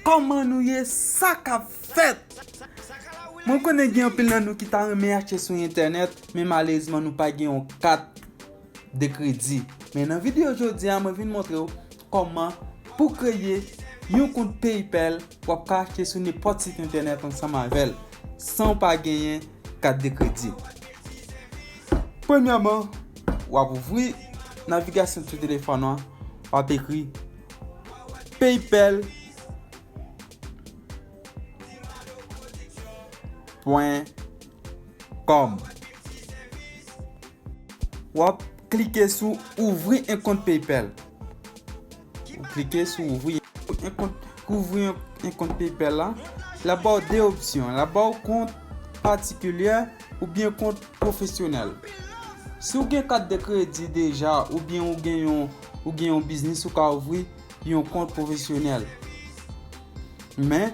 Koman nou ye sa kap fet. Mwen konnen gen anpil nan nou ki ta renmen achte sou entènèt men malezman nou pa gen yon kat. de kredi. Men nan video jodi a mwen vin montre w kòman pou kreye yon kont PayPal wap ka achte sou nenpòt sit entènèt ansanm avèl san w pa genyen kat de kredi. Premyèman wap ouvri navigasyon sou telefòn an wap ekri PayPal pwen. Kòm. Wap klike sou ouvri en kont paypal. Ou klike sou ouvri en kont. Pou ouvri en kont paypal la. La baw 2 opsyon. La baw kont patikilyè ou byen kont pwofesyonèl. Si ou gen kat de kredi deja ou byen ou gen yon. Ou gen yon biznis ou ka ouvri yon kont pwofesyonèl. Men.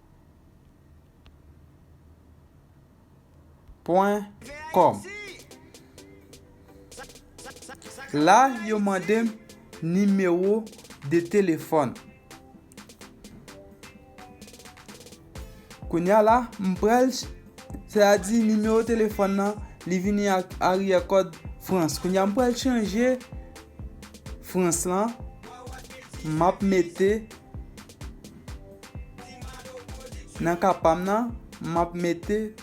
Pwen kòm La yo mande m nimewo de telefòn Kounya la m pral Se a di nimewo telefòn nan Li vini ak aryè kòd frans Kounya m pral chanje frans lan M ap mete Nan ka pam nan, map mete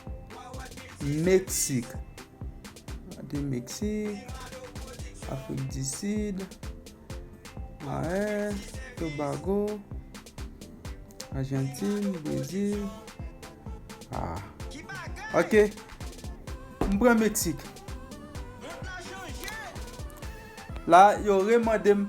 Meksik. Mete Meksik, Afrik di Sid, Mayen, Tobago, Ajantin, Brezil. Ok, m pran Meksik. La yo remande m.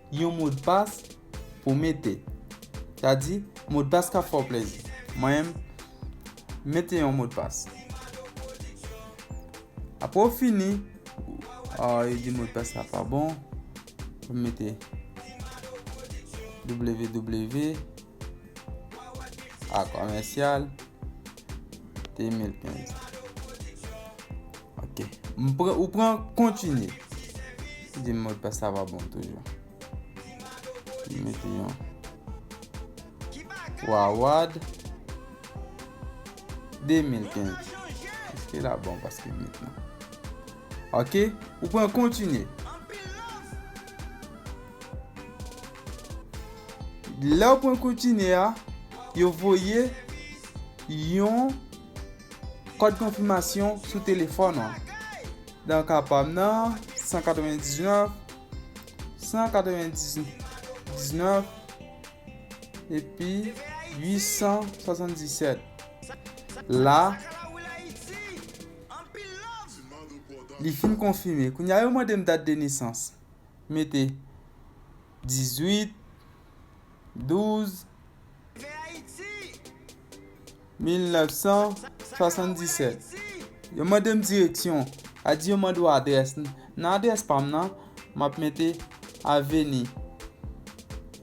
Yon modpas pou mete. Sa di, modpas k ap fè w plezi. Mwen menm, m mete yon modpas. Apre w fini, yo di modpas la pa bon. Mwen mete ww. A commercial 2015 Ok Ou pran continue Si di mot pas la va bon toujou Mete yon Wawad 2015 Eske la bon paske mete yon Ok ou pran kontinye. Lèw pran kontinye a yo voye yon kòd konfimasyon sou telefòn ou. Dan ka pam nan 199 199 epi 877 la Anpil love! Li fin konfime. Kounye a yo mande m dat de nesans. M mete 18 12 1977. Yo mande m direksyon. A di yo mande w adrès. Nan adrès pa m nan, m ap mete Aveni.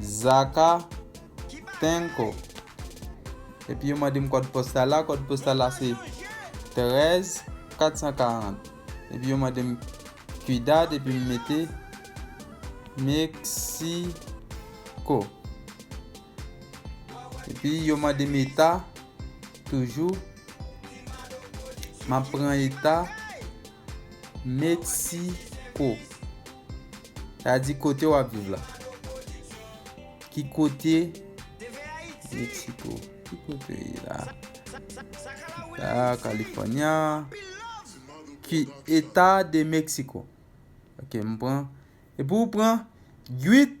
Zaka tenko. Epi yo mande m kòd postal la, kòd postal la se 13 440. Epi yo mande m Cuidad epi m mete Mexico. Epi yo mande m eta toujou. M ap pran eta Mexico sa di kote wap viv la ki kote Mexico ki kote la la California ki eta de Mexico ok m pran e pou pran 8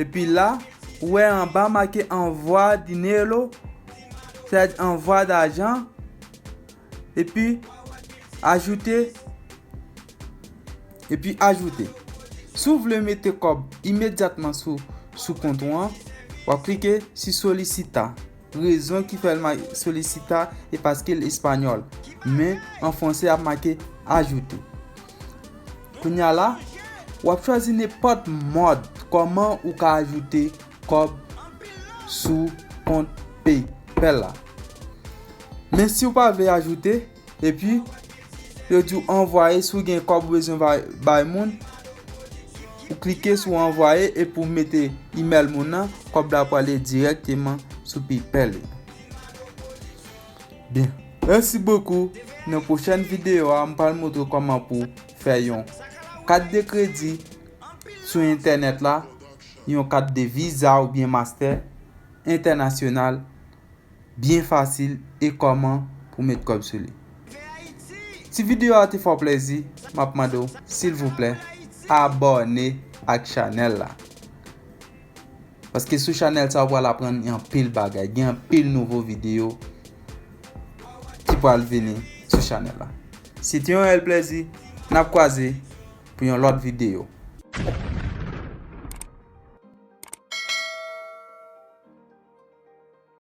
Epi la, ou wè anba make anvwa dinero, sèd anvwa dajan, epi ajoute, epi ajoute. Si w vle mete kòb imedyatman sou kont ou an, w ap klike si solisita. Rezon ki fè l make solicita e paske l espanyòl. Men, an franse y ap make ajouter. Kounye a la, w ap chwazi nenpòt mòd kòman ou ka ajoute kòb sou kont PayPal la. Men si w pa vle ajoute, Epi, yo di ou anvwaye si ou gen kòb ou bezwen bay moun, ou klike sou anvwaye epi ou mete email moun nan, kòb la prale direkteman sou PayPal li. Bien, merci beaucoup. Nan pwochèn videyo a, m pral montre w kòman pou fè yon kat de kredi sou entènèt la, yon kat de Visa oubyen Master entènasyonal. byen fasil e kòman pou met kòb sou li. Si video a te fè w plèzi, map mande w silvouplè abòne ak chanèl la. Paske sou chanèl sa ou pral aprann anpil bagay, gen anpil nouvo video ki pral vini sou chanèl la. Se te yon rèl plèzi, nap kwaze pou yon lòt video.